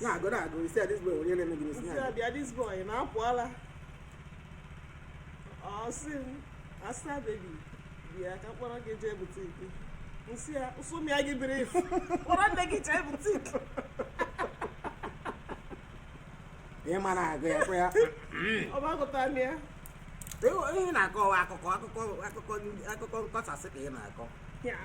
na-agụ na-agụ isi a this boy onye na-eme gị n'isi M sị a bịa this boy na-apụ ala ọ sị m asa baby bịa ka m kpọrọ gị jee boutique m sị ya ụsụ mịa gị biri ifu kpọrọ nne gị jee boutique ị ma na-agụ ya kwa ya ọgbagụta m ya Ị- ị na-akọwa akụkọ akụkọ akụkọ ndị- akụkọ nkọsasị ka ị na-akọ ya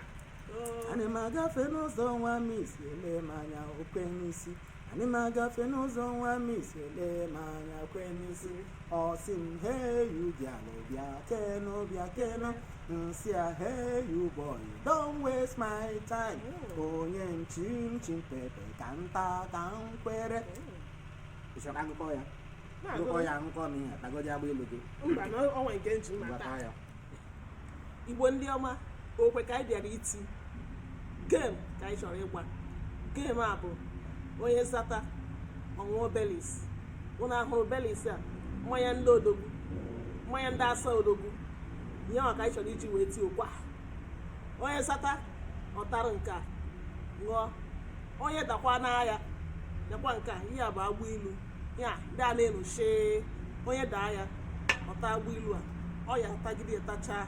ana m agafe n'ụzọ nwa m isi ele m anya o kwe n'isi ana m agafe n'ụzọ nwa m isi ele m anya o kwe n'isi ọ sị m hey you bịanụ bịakenụ bịakenụ m sị ya hey you boy don't waste my time onye nchim chim pepe ka nta ka m kwere ị chọrọ akụkọ ya akụkọ ya akụkọ m ihe tagodi agba ilu gị mba na o nwe nke m ji mma Ngwa ta taa ya igbo ndị ọma okwe ka anyị bịara iti game ka anyị chọrọ ịgba game a bụ onye zata ọ ṅụọ Baileys ụnụ ahụrụ Baileys a mmanya ndị odogwu mmanya ndị asa odogwu ihe a ka anyị chọrọ iji wee tie okwe a onye zata ọ tara nke a ṅụọ onye dakwanụ ya takwa nke a ihe a bụ agba ilu ya ndị a na-enuche onye daa ya ọ taa agba ilu a ọ ya-atagide ya tachaa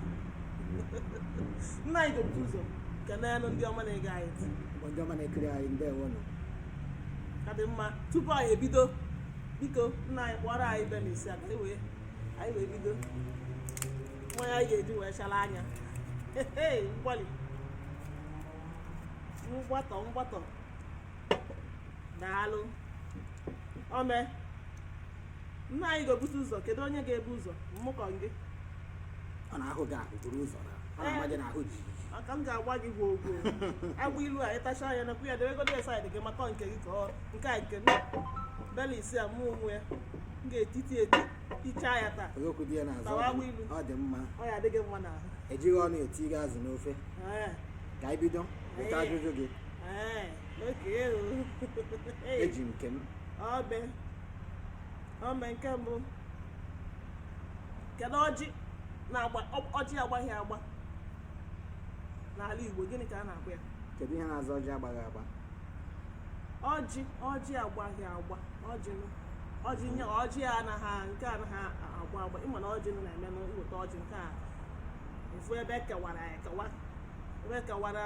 nna anyị ga-ebu ụzọ kenenụ ndị ọma na-ege anyị ntị ndị ọma na-ekiri anyị ndewonụ ọ ka dị mma tupu anyị ebido biko nna anyị kpọrọ anyị Baileys a ka anyị wee anyị wee bido mmanya anyị ga-eji wee chara anya mgbalị mgbatọ mgbatọ daalụ ome nna anyị ga-ebute ụzọ kedu onye ga-ebu ụzọ mmụ ka ọ gị ọ na-agụ gị agụ buru ụzọ na ọ na-ama gị n'ahụ jijiji maka m ga-agwa gị gwoo gwoo agba ilu a ị tachaa anya nakwu ya debegodo ya side gị maka nke gị ka ọ nke a nke Baileys a mụ onwe ya m ga-etiti eti tichaa ya taa okwu dị ya n'azụ Tawa agba ilu. ọ dị mma ọ ya adịghị mma n'ahụ ejighị ọnụ etinye azụ n'ofe Ee. ka anyị bido weta Ee. ajụjụ gị eji nke mbụ e ome nke mbụ kedu ọjị na-agba ọjị agbaghị agba n'ala Igbo gịnị ka a na-akpọ ya kedu ihe na-aza ọjị agbaghị agba ọjị ọjị agbaghị agba ọjị ọjị nye ọjị anaghị nke anaghị agba agba ịma na ọjị na-eme na m weta ọjị nke a ofu ebe e kewara ekewa ebe e kewara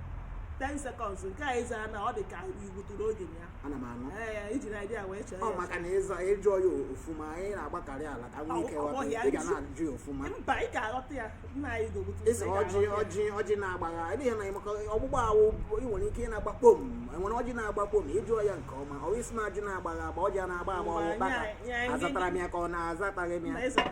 10 seconds nke a ịza na ọ dị ka igbuturu oge ya ana m anụ ee ijiri idea wee chee ọ maka na ịza ịjụọ ya ofuma anyị na-agbakarị ala ka nwee ike ghọta ya, ị ga na-ajụ ya ofuma mba ị ga-aghọta ya nna anyị ga-egbutu ịsa ọjị ọjị ọjị na-agbagha ebe ihe na maka ọgbụgba awụ ị nwere ike ịna-agba kpom enwere ọjị na-agba kpom ịjụọ ya nke ọma ọ wụ isi na-ajụ na-agbagha agba ọjị a na-agba agba ọ wụ ukpaka azatara m ya ka ọ na azataghị m ya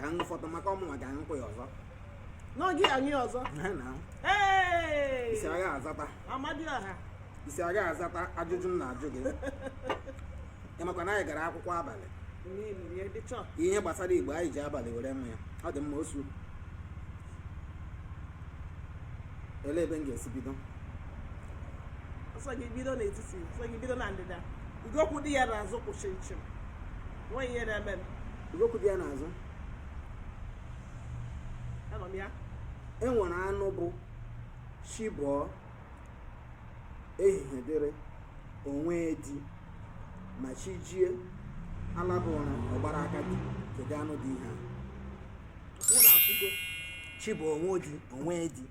ka m fọtọ maka ọmụnwa ga nkwụ ya ọzọ n'oge anyị ọzọ ị si aga azata Amadioha ị si aga azata ajụjụ m na-ajụ gị ị makwa na anyị gara akwụkwọ abalị ihe gbasara Igbo anyị ji abalị were mụ ya ọ dị mma osu elee ebe m ga-esi bido ọ sọ gị bido n'etiti ọ sọ gị bido na ndịda ụdị okwu dị ya n'azụ kwụchiri chịm nweghị ihe na-eme okwu dị ya n'azụ e nwere anụ bụ chi bọọ ehihie dịrị o nwee di ma chi jie alaba ụra ọ gbara aka di kedu anụ dị ihe ahụ chi bọọ o nwee di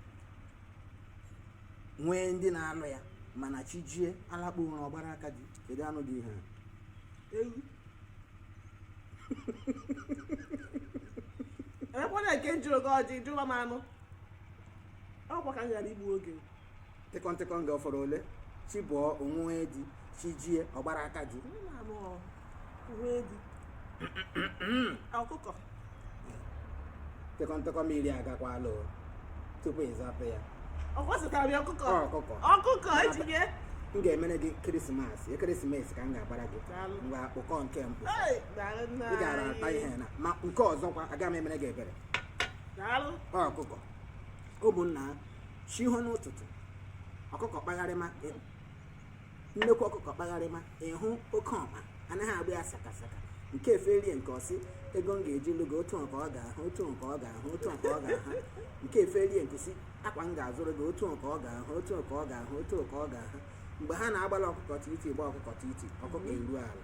nwee ndị na-anụ ya mana chi jie alakpuo ụra ọ gbara aka di kedu anụ dị ihe ahụ ewu emekwana nke m jụrụ gị ọjị jụwa m anụ ọkwa ka m ghara igbu oge tịkọntịkọ oge ọ fọrọ ole chi bọọ o nwee di chi jie ọ gbara aka di Onye na-anụ ọhụ? O nwee di ọkụkọ tịkọntịkọ mmiri agakwala o tupu ịzapụ ya ọkwa azatara m ya ọkụkọ Ọ, ọkụkọ. ọkụkọ ejige m ga-emere gị Christmas Christmas ka m ga-agbara gị Daalụ. mgbe akpụkọ nke mbụ Hey, daalụ nna ị gara ata anyị. ihe na ma nke ọzọkwa aga m emere gị ebere daalụ Ọ ọkụkọ ụmụnna chi hoo n'ụtụtụ ọkụkọ kpagharịma nnekwu ọkụkọ kpagharịma ịhụ oke ọma anaghị agba ya sakasaka nke eferie nke ọsị ego m ga-eji lụgo otu nke ọ ga-ahụ otu nke ọ ga-ahụ otu nke ọ ga-ahụ nke eferie nke si akwa m ga-azụrụ gị otu nke ọ ga-ahụ otu nke ọ ga-ahụ otu nke ọ ga-ahụ mgbe ha na-agbala ọkụkọ titi gba ọkụkọ titi ọkụkọ eru ala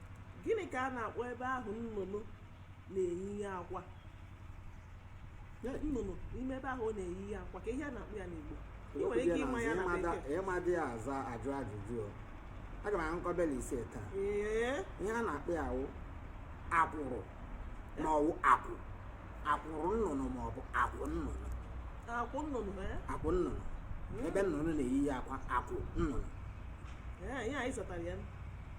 gịnị ka a na-akpọ ebe ahụ nnụnụ na-eyihe akwa nnụnụ n'ime ebe ahụ ọ na-eyihe akwa ka ihe a na-akpọ ya n'Igbo ị nwere ike ịma ya na bekee ị madị ya aza ajụ ajụjụ aga m ahụkọ bela ise taa ihe a na-akpọ ya wụ akwụrụ ma ọ wụ akwụ akwụrụ nnụnụ ma ọ bụ akwụ nnụnụ akwụ nnụnụ akwụ nnụnụ ebe nnụnụ na-eyihe akwa akwụ nnụnụ ihe anyị zatara ya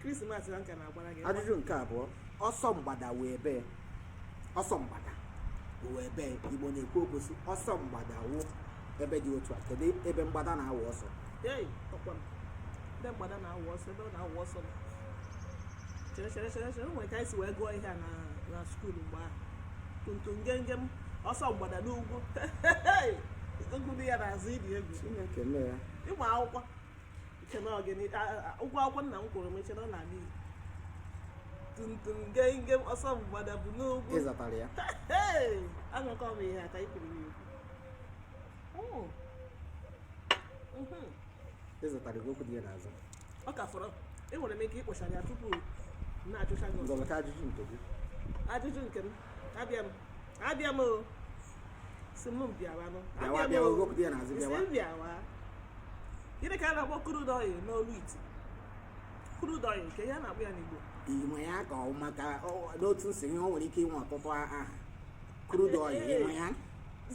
krismas na nka na-agbara gị ajụjụ nke abụọ ọsọ mgbada wụ ebee ọsọ mgbada wụ ebee igbo na-ekwu okwu sị ọsọ mgbada wụ ebe dị otu a kedu ebe mgbada na-awụ ọsọ Hey, ọkwa m. Ndị mgbada na-awụ ọsọ ebe ọ na-awụ ọsọ nọ. chere chere chere chere o nwere ka anyị si wee gụọ ihe a na na skuul mgbe ahụ tum tum gem gem ọsọ mgbada n'ugwu ugwu dị ya n'azụ ị dị egwu chineke mee ya ịmụ akwụkwọ i che na ọ gịnị ụgwọ akwụkwọ nna m kwụrụ m i che na ọ na-ala igbo tum tum gem gem ọsọ mgbada bụ n'ugwu ị zatara ya anụkwa m ihe a ka i kwuru m ikwu ịzatara gị okwu dị ya n'azụ ọ ka fọrọ enwere m ike ịkpọchara ya tupu na-ajụcha gị ọzọ. ngwa weta ajụjụ nke gị ajụjụ nke m abịa m abịa m o sị m bịawanụ bịawa bịa wepụta ya n'azụ bịawa bịawa gịnị ka a na-akpọ crude oil n'olu ite crude oil nke ya na-akpọ ya n'Igbo inwe ya ka ọ maka n'otu nsị ihe o nwere ike inwe ọtụtụ aha crude oil inwe ya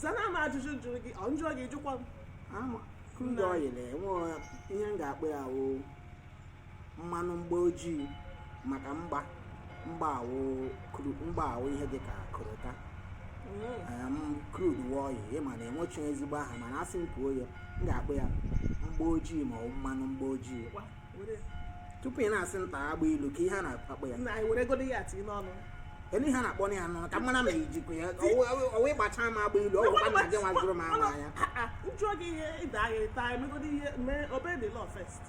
zana m ajụjụ jụrụ gị ọ m jụọ gị jụkwa m crude oil enwe ihe m ga-akpọ ya wụ mmanụ mgba ojii maka mgba mgba awụ kru- mgba awụ ihe dịka korota crude oil ị ma na enwechi ezigbo aha mana asị m kwuo ya m ga-akpọ ya mgba ojii ma ọ bụ mmanụ mgba ojii Ngwa, were- tupu ị na-asị m taa agba ilu ka ihe a na-akpọ ya na anyị were godo ya tinye n'ọnụ elu ihe a na-akpọ ya n'ọnụ ka m mara ma i jikwa ya ọ wụ ị gbacha m agba ilu ọ gwụ ka nna gị nwazuru m ama ya Ah, ah, m jụọ gị ihe ị daa agha ịta emegodi ihe mee obey the law first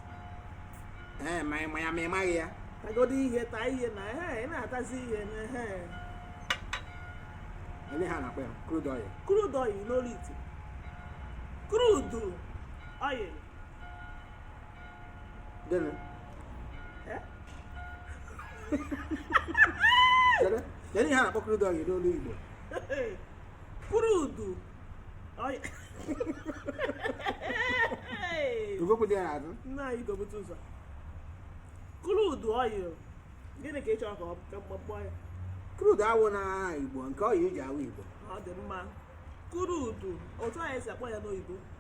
ee ma ị ma ya ma ị maghị ya tagodi ihe taa ihe na ehe ị na-atazi ihe na ehe ele ihe a na-akpọ ya crude oil crude oil n'olu ite crude oil gịnị Eh? kedu kedu ihe a na-akpọ crude oil n'olu igbo crude oil. Hey! Ogokwu dị ya n'azụ. nna anyị gobute ụzọ crude oil gịnị ka ị chọrọ ka m ka m kpọọ ya Crude awụ na Igbo nke oil eji awụ Igbo. ọ dị mma crude otu anyị si akpọ ya n'oyibo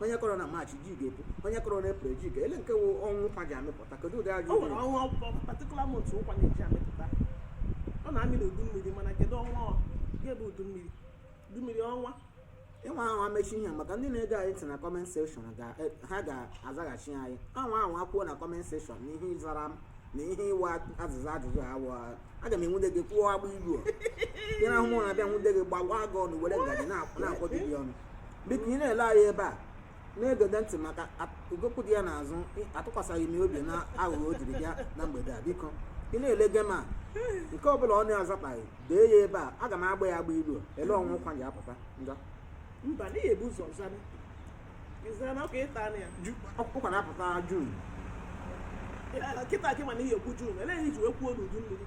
onye kọrọ na maachị ji ga-epu onye kọrọ na eprel ji ga ele nke wụ ọnwa ụkwa ji amịpụta kedu ụdị ajụjụ o nwere ọnwa ọkpọ patikula mont ụkwa na-eji amịpụta ọ na-amị na udu mmiri mana kedu ọnwa ọ ga-ebe udu mmiri udu mmiri ọnwa ịnwa ahụ amechi ihe a maka ndị na-ege anyị ntị na kọment sekshọn ga- eh, ha ga-azaghachi anyị ọnwa ahụ ha kwuo na kọment sekshọn na ihe ị zara m na ihe ịwa azịza ajụjụ ahụ o aga m enwude gị kwụọ agba ilu a. Ị na-ahụ mụ na-abịa nwude gị gbawaa gị ọnụ were ngaji na-akwọju gị ọnụ biko ị na-ele anyị ebe a na-egede ntị maka ugokwu dị ya n'azụ atụkwasịghị m obi na aghụghọ o jiri bịa na mgbede a biko ị na-ele game a nke ọ bụla ọ na-azataghị dee ya ebe a aga m agba ya agba ilu elee ọnwa ụkwa ji apụta njọ mba n'ihi e bu ụzọ zara ịzara na ọka ịta na ya ụkwa na-apụta June kịta akị mana ihe ekwu June elee ihe i ji wee kwuo n'udu mmiri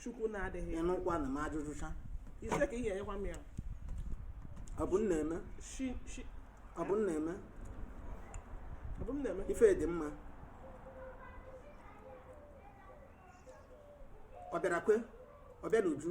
chukwu na-adịghị ya ịnụkwa na m ajụjụcha ise ka ị ga-enyekwa m ya ọ bụ m na-eme shi shi ọ bụ m na-eme ọ bụ m na-eme ife dị mma ọ bịara kwe ọ bịa n'uju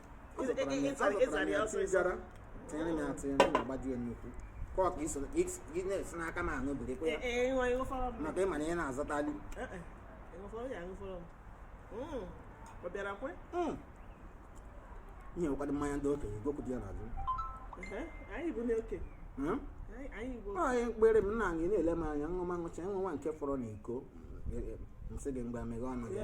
gara tinyere ya atịnyere na agbaju ya nnukwu ka ọ ka iso na-esi n'aka m aṅụ biri kwa ya maka ịma na ihe na-azatali ihe ụkwado mmanya ndị okenye gokwu dị ya n'azụ anyị mkpere m nna anyị na-ele m anya nwa ṅụcha nwa nwa nke fọrọ na iko m sị gị mgbe meghe ọnụ ya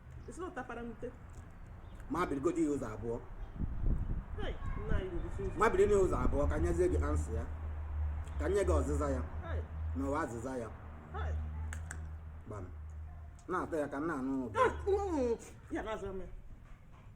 Isi na ọ tapara n'ute. ma birigodo ya ụzọ abụọ Hey, nna anyị ruru isi ụzọ. ma biri na ụzọ abụọ ka nyezie gị answer ya ka nye gị ọzịza ya Hey, na ụwa azịza ya hey. gbam na-atọ ya ka m na-anụ ụda Ya, mm, ya na-aza m ya.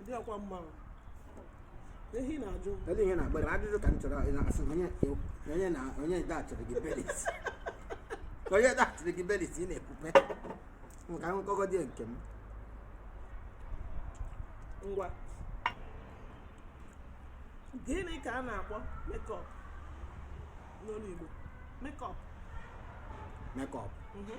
Ndị ọkwa mmanwụ. Ehi na-ajụ. Kedu ihe na-agbara m? Ajụjụ ka m chọrọ ị na-asị na onye onye na onye ide achọrọ gị belis. Onye ide achọrọ gị belis ị na-ekwupe. Nka nkọgọ dị nke m. Ngwa. Gịnị ka a na-akpọ makeup n'olu Igbo? Makeup. Makeup. Mhm.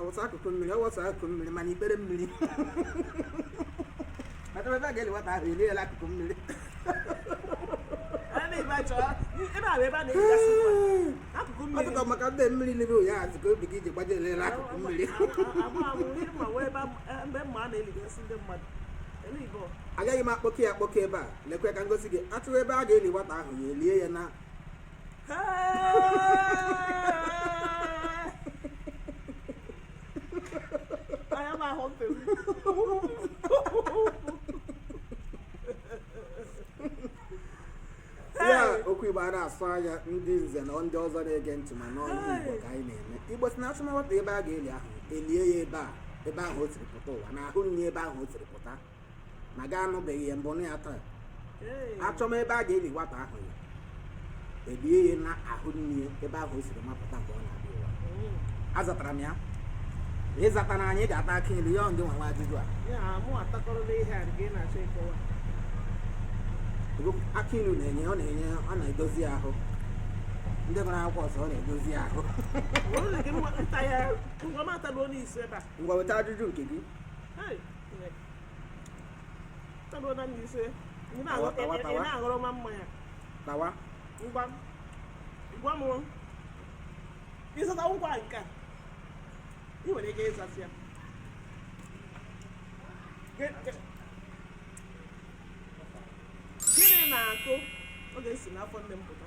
ọwụsa akụkụ mmiri ọwụsa akụkụ mmiri mana ikpere mmiri maka ebe a ga-eli nwata ahụ eliela akụkụ mmiri ọtụtụ maka ndị mmiri n'ebe ụnyaahụ azụ ka obi gị ji gbaje elela akụkụ mmiri agaghị m akpọke ya akpọke ebe a lekwe ka m gosi gị a chọwa ebe a ga-eli nwata ahụ ya elie ya na na-asụ anya ndị nze na ndị ọzọ na-ege ntị ma n'ọnụ igbo ka anyị na-eme igbo sị na a chọma nwata ebe a ga-eli ahụ elie ya ebe a ebe ahụ o siri pụta ụwa na ahụ nri ebe ahụ o siri pụta ma gị anụbeghị ya mbụ nụ ya taa Ee. achọma ebe a ga-eli nwata ahụ ya elie ya na ahụ nne ya ebe ahụ o siri mapụta mgbe ọ na-abịa ụwa Mm. azatara m ya ị zatara anyị ga-ata akị ilu ya ndị nwe ajụjụ a Ya, mụ atakọrọla ihe a nke ị na-achọ ịkọwa Ego akị ilu na-enye ọ na-enye ọ na-edozi ahụ ndị gụrụ akwụkwọ sị ọ na-edozi ahụ Ọ bụrụ na gị mma- nta ya ngwa m ataluo n'isi ebe a ngwa weta ajụjụ nke gị Hey. tawa ngwa gwa m ịzụta ngwa nke a ị nwere ike ịzasị ya gịnị na-akụ oge si n'afọ nne m pụta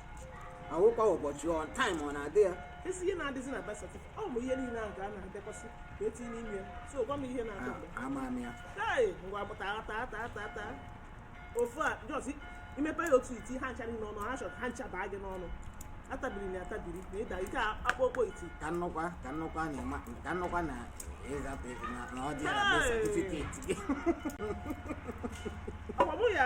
ọ wụkwa ụbọchị ọ time ọ na-adị ya esi ihe na-adịzi na birth certificate ọ bụ ihe niile ahụ ka a na-edekwasị ka etinye n'ime ya so gwa m ihe na-akụ mgbe A- ama m ya Hey, ngwa bụ taa taa taa taa taa ofu a just imepe ya otu iti ha ncha niile ọnụ ha chọrọ ha ncha baa gị n'ọnụ atabiri na atabiri na ịda ike akpọ okpo iti ka m nụkwa ka m nụkwa na ịma ka m nụkwa na ịzapụ na na ọ dị ya na Hey! certificate gị ọ bụ ya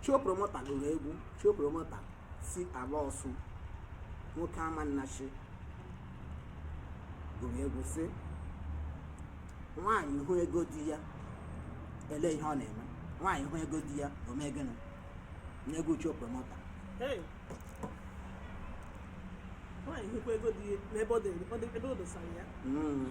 Show Promoter gụrụ egwu Show Promoter si ala Ọsụ nwoke Amannachi gụrụ egwu sị nwaanyị hụ ego di ya ele ihe ọ na-eme nwaanyị hụ ego di ya o mee gịnị n'egwu Show Promoter Hey. nwaanyị hụkwa ego di ya n'ebe ọ dị- ọ dị- ebe o dosara ya Mm.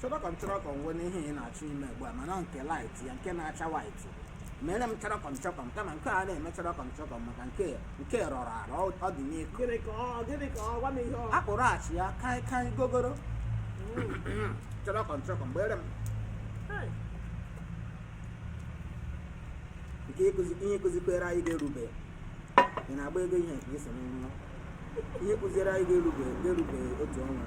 chọrọkọm chọrọkọm wee n'ihe ị na-achọ ime ugbu a mana nke light ya nke na-acha white mere m chọrọkọm chọkọm kama nke a na-eme chọrọkọm chọkọm maka nke nke rọrọ arọ ọ- ọ dị n'iko gịnị ka ọ gịnị ka ọ gwa m ihe ọ akpụrụ achịa kai kai ogogoro chọrọkọm chọkọm gbere m Hey, nke ịkụzi ihe kụzikwere anyị ga-erube ị na-agba ego ihe nke iso n'ụlọ ihe kụziere anyị ga-erube ga-erube otu ọnwa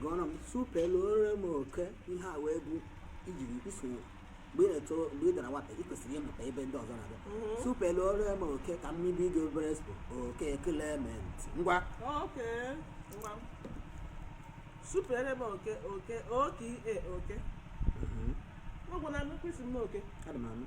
gụọrọ m supelụọrọ m oke ihe a wee bụ ijiri isonye mgbe ị na-eto mgbe ị dara nwata ị kwesịrị ịmụta ebe ndị ọzọ na-abịa supelụọrọ m oke ka m ibe gị obere expo oke Clement ngwa oke ngwa m. supere m oke oke oke e oke Mhm. ọ gwụla m kwesị m na oke Adị m anụ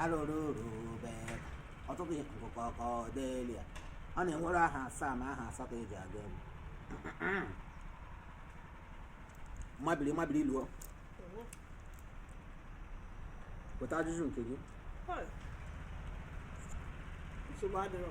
arụrụrụbe ọtụtụ ihe nkụkọ Cordelia ọ na-enwere aha asaa ma aha asatọ eji agụ egwu mabiri mabiri luo weta ajụjụ nke gị nsogbu adịrọ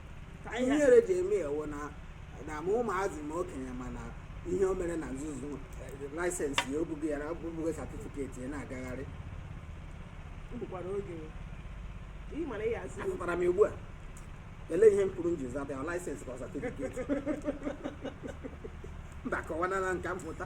ka ihe ihere ji eme ewu na na ma ụmụazị ma okenye mana ihe o mere na nzuzo eh, laịsensị ya o bugo ya na o bugo satifiketi ya na-agagharị m bụkwara oge ị mara ya aza azatara m ugbu a ele ihe m kwuru m ji zata ya laịsensị ka ọ satifiketi mba kọwana na nka m pụta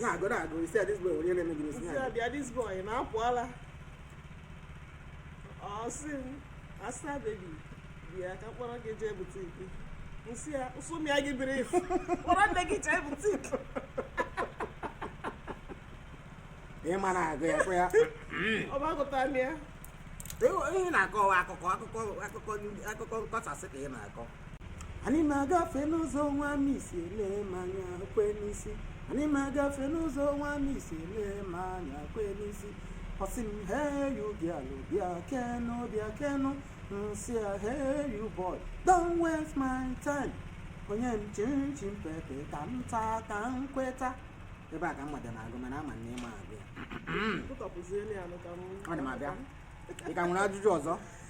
na-agụ na-agụ isi this boy onye na-eme gị n'isi Nsị ya bịa this boy na-apụ ala ọ sị m asa baby bịa ka m kpọrọ gị jee butiki nsị ya nsụmịa gị biri ifu kpọrọ nne gị jee butiki ịma na-agụ ya kwa ya ọgbagụta m ya ihe na-akọ akụkọ akụkọ akụkọ akụkọ nkọsasị ka ị na-akọ anyị na-agafe n'ụzọ nwa misi ele m anya kwe n'isi anyị na-agafe n'ụzọ nwa misi ele m anya kwe n'isi ọ sị m hey you girl bịakenụ bịakenụ nsị ya hey you boy don't waste my time o nye m chinchin pepe ka m taa ka m kweta ebe a ka m mmadụ na-agụ mana ama m na ị ma agụ ya Tụtọpụziele ya nụ ka m- ọ dị m abịa ị ka nwere ajụjụ ọzọ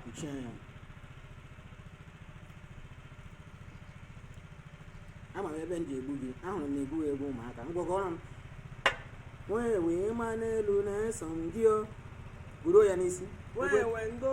kpuchie anya ama m ebe m ji egbu gị ahụrụ m egwu egwu ụmụaka ngwagọrọ m wee wee ma n'elu na-eso ngị o buru ya n'isi Wee wee ndo.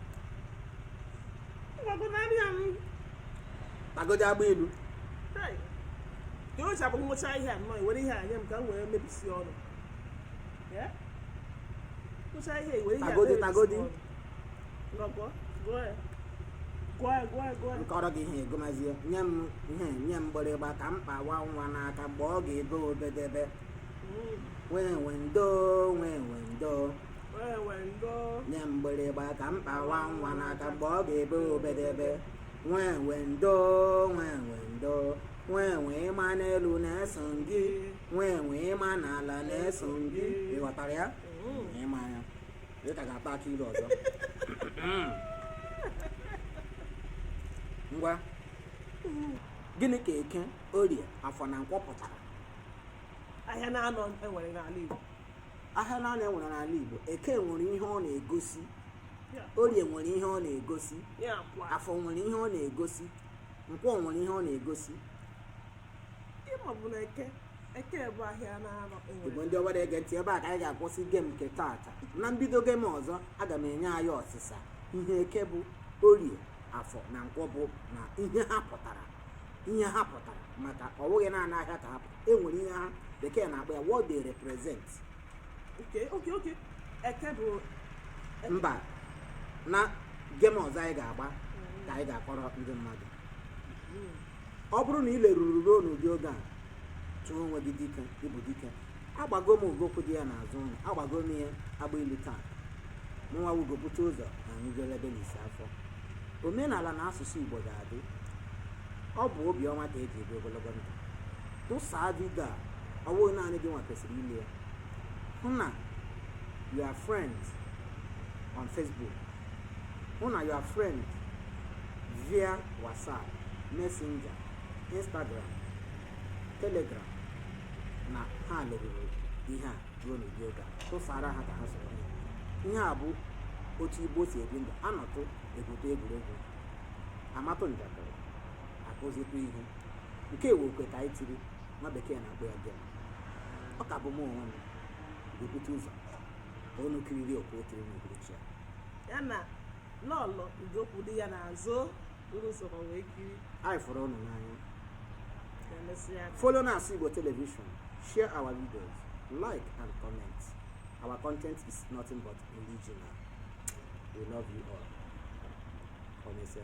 tagodi agba ilu ocha bụ ngwụcha ihe a nnọọ were ihe anya m ka m wee mebisi ọnụ ngwụcha ihe were ihe tagodi tagodi nkọọrọ gị ihe egomazie nye m ihe nye m mgbịrịgba ka m kpawa nwa n'aka mgbe ọ ga-ebe obedebe mm. wee wee ndo wee wee ndo nye m mgbịrịgba ka m kpawa nwa n'aka mgbe ọ ga-ebe obedebe wee wee ndo wee wee ndo wee wee ma n'elu na-eso gị wee wee ma n'ala na-eso gị ị ghọtara ya ị ma ya ị ka ga-ata akị ilu ọzọ ngwa gịnị ka eke orie afọ na nkwọ pụtara ahịa naanọ e nwere n'ala Igbo ahịa naanọ e nwere n'ala igbo eke nwere ihe ọ na-egosi orie nwere ihe ọ na-egosi ya kwa afọ nwere ihe ọ na-egosi nkwọ nwere ihe ọ na-egosi ị mabu na eke eke bụ ahịa naanọ igbo nwere ndị ọgbara ege ntị ebe a ka anyị ga-akwụsị gem nke taata na mbido gem ọzọ aga m enye anyị ọsịsa ihe eke bụ orie afọ na nkwọ bụ na ihe ha pụtara ihe ha pụtara maka ọ bụghị naanị ahịa ka ha pụtara e nwere ihe ha bekee na-akpọ ya what they represent okay eke bụ mba na game ọzọ anyị ga-agba ka anyị ga-akọrọ ndị mmadụ ọ bụrụ na ị leruru ruo n'ụdị oge a tuo onwe gị dike ị bụ dike agbago m ugo kwụ di ya n'azụ ụlọ agbago m ya agba ilu taa mụnwa wugopụta ụzọ na anyị jelube n'isi afọ omenala na asụsụ igbo ga-adị ọ bụ obi ọma ka e ji ebi ogologo ndụ tụsaa vidio a ọ bụghị naanị gị nwa kwesịrị ile ya hụ na your friend on facebook hụ na your friend via whatsapp messenger instagram telegram na ha leruru ihe a ruo n'ụdị oge a tụsara ha ka ha soro ya ihe a bụ otu igbo si ebi ndụ a nọtụ e gwutụ egwuregwu a matụ njakịrị a kụzitụ ihe nke a wụ okwe ka anyị tiri nwa bekee na-akpọ ya game ọ ka bụ m onwe m ga-ebute ụzọ ka unu kiriri okwe o tiri n'uhuruchi a ya na lọlọ ugo kwụ di ya n'azụ unu sokwa wee kiri anyị fụrụ unu n'anya ka emesịa follow na-asụ igbo television share our videos like and comment our content is nothing but original we love you all ka emesịa